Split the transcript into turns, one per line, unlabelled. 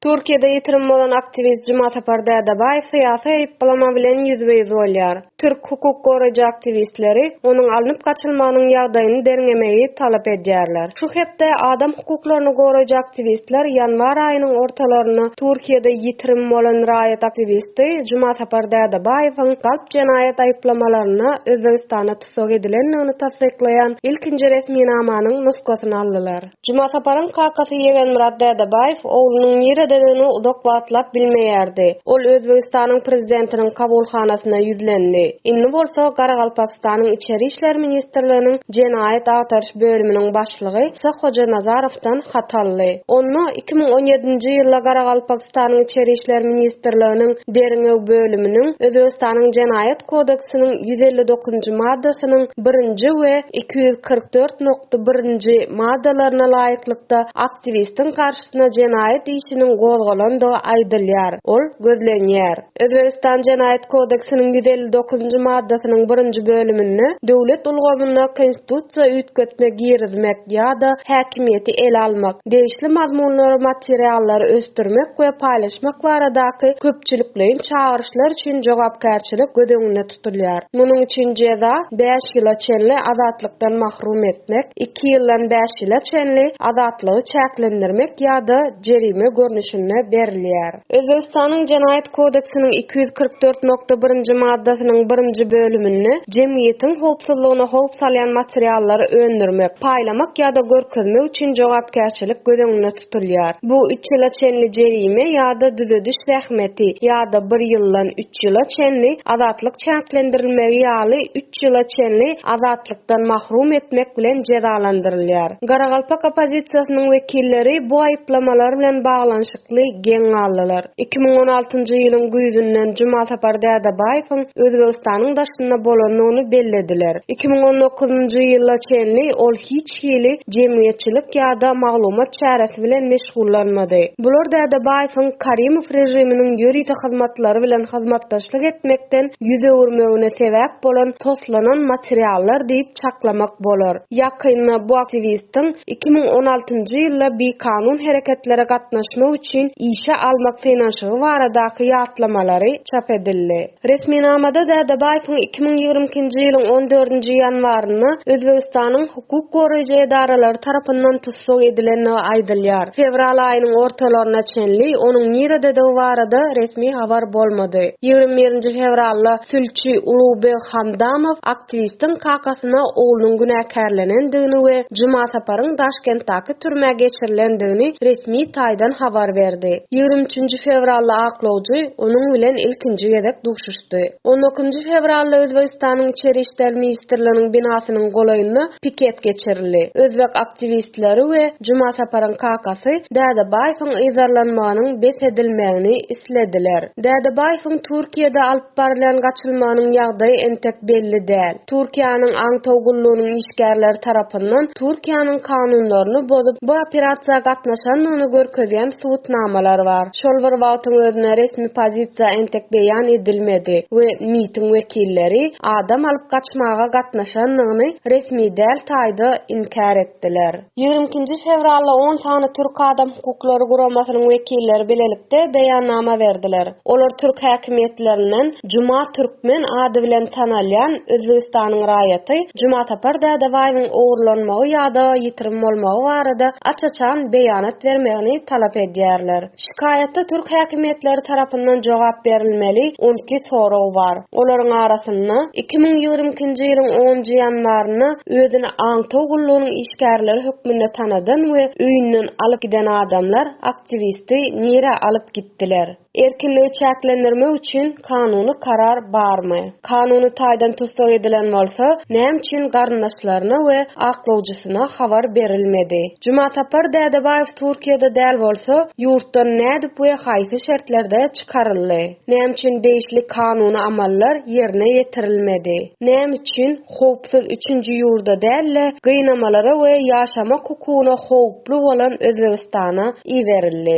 Türkiýede ýitirim bolan aktiwist Jumasapar Dädebaýew syýasy aýyplama bilen ýüzbe-ýüz bolýar. Türk hukuk goraýjy aktiwistleri onuň alnyp gaçylmagynyň ýagdaýyny derňemegi talap edýärler. Şu hepde adam hukuklaryny goraýjy aktiwistler ýanwar aýynyň ortalarynda Türkiýede ýitirim bolan raýat aktiwisti Jumasapar Dädebaýewiň galp jenaýat aýyplamalaryna Özbegistana tussag edilendigini tassyklaýan ilkinji resminamanyň nusgasyny aldylar. Jumasaparyň kakasy Ýegenmyrat Dädebaýew oglunyň nirededigini uzak wagtlap bilmeýärdi. Ol Özbegistanyň prezidentiniň kabulhanasyna ýüzlendi. Indi bolsa Garagalpakystanyň Içeri işler ministrliginiň Jenaýat agtaryş bölüminiň başlygy Sah Hojanazarowdan hat aldy. Onda iki müň on ýedinji ýylda Garagalpak Türkmenistanyň Içeri işler ministrliginiň Derňew bölüminiň Özbegistanyň Jenaýat kodeksiniň ýüz elli dokuzynjy maddasynyň birinji we iki ýüz kyrk dört nokta bir nji maddalaryna laýyklykda aktiwistiň garşysyna jenaýat işiniň gozgalandygy aýdylýar, ol gözlenýär. Özbegistan Jenaýat kodeksiniň ýüz elli dokuzynjy maddasynyň birinji bölüminde döwlet ulgamyna konstitusiýa üýtgetme girizmek ýa-da häkimiýeti ele almak, degişli mazmunlary, materiallary ösdürmek we paýlaşmak baradaky köpçülikleýin çagyryşlar üçin jogapkärçilik göz öňünde tutulýar. Munuň üçin jeza bäş ýyla çenli azatlykdan mahrum etmek, iki ýyldan bäş ýyla çenli azatlygy çäklendirmek ýa-da jerime görnüşinde berilýär. Özbegistanyň Jenaýat kodeksiniň iki ýüz kyrk dört nokta birinji maddasynyň birinji bölüminde jemgyýetiň howpsuzlygyna howp salýan materiallary öndürmek, paýlamak ýa-da görkezmek üçin jogapkärçilik göz öňünde tutulýar. Bu üç ýyla çenli jerime ýa-da düzediş zähmeti ýa-da bir ýyldan üç ýyla çenli azatlyk çäklendirilmegi ýaly üç ýyla çenli azatlykdan mahrum etmek bilen jezalandyrylýar. Garagalpak oppozisiýasynyň wekilleri bu aýyplamalar bilen baglanyşykly geň galdylar. Iki müň on altynjy ýylyň güýzünden Jumasapar Dädebaýewiň Özbegistanyň daşynda bolandygyny bellediler. Iki müň on dokuzynjy ýyla çenli ol hiç hili jemgyýetçilik ýa-da maglumat çäresi bilen meşgullanmady. Bular Dädebaýewiň Karimow režiminiň ýörite hyzmatlary bilen hyzmatdaşlyk etmekden ýüz öwürmegine sebäp bolan toslanan materiallar diýip çaklamak bolar. Ýakynda bu aktiwistiň iki müň on altynjy ýylda bikanun hereketlere gatnaşmak üçin işe almak synanyşygy baradaky ýatlamalary çap edildi. Resminamada Dädebaýewiň iki müň ýigrimi ikinji ýylyň on dördünji ýanwarynda Özbegistanyň hukuk goraýjy edaralary tarapyndan tussag edilendigi aýdylýar. Fewral aýynyň ortalaryna çenli onuň nirededigi barada resmi habar bolmady. Ýigrimi birinji fewralda sülçi Ulugybeg Hamdamow ak Aktiwistiň kakasyna oglunyň günäkärlenendigini we Jumasaparyň Daşkentdäki türmä geçirilendigini resmi taýdan habar berdi. Ýigrimi üçünji fewrally aklawjy onuň bilen ilkinji gezek duşuşdy. On ikinji fewralda Özbegistanyň Içeri işler ministrliginiň binasynyň golaýynda piket geçirildi. Özbek aktiwistleri we Jumasaparyň kakasy Dädebaýewiň yzarlanmagynyň bes edilmegini islediler. Dädebaýewiň Türkiýede alyp barylýan gaçylmanyň ýagdaýy entek belli däl. Türkiýäniň aňtaw gullugynyň işgärleri tarapyndan Türkiýäniň kanunlaryny bozup, bu operasiýa gatnaşandygyny görkezýän subutnamalar bar. Şol bir wagtyň özünde resmi pozisiýa entek beýan edilmedi we MIT-iň wekilleri adam alyp gaçmaga gatnaşandygyny resmi däl taýda inkär etdiler. Ýigrimi ikinji fewralda on sany türk adam hukuklary guramasynyň wekilleri bilelikde beýannama berdiler. Olar türk häkimiýetlerinden Juma Türkmen ady bilen tanalýan Özbegistanyň raýaty Jumasapar Dädebaýewiň ogurlanmagy ýa-da ýitirim bolmagy barada aç-açan beýanat bermegini talap edýärler. Şikaýata türk häkimiýetleri tarapyndan jogap berilmeli on iki sorag bar. Olaryň arasynda, iki müň ýigrimi ikinji ýylyň onunjy ýanwarynda özüni aňtaw gullugynyň işgärleri hökmünde tanadan we öýünden alyp giden adamlar aktiwisti nirä alyp gitdiler? Erkinligi çäklendirmek üçin kanuny karar barmy? Kanuny taýdan tussag edilen bolsa, näme üçin garyndaşlaryna we aklawjysyna habar berilmedi? Jumasapar Dädebaýew Türkiýede däl bolsa, ýurtdan nädip we haýsy şertlerde çykaryldy? Näme üçin degişli kanuny amallar ýerine ýetirilmedi? Näme üçin howpsuz üçünji ýurda däl-de, gynamalara we ýaşamak hukugyna howply bolan Özbegistana iberildi?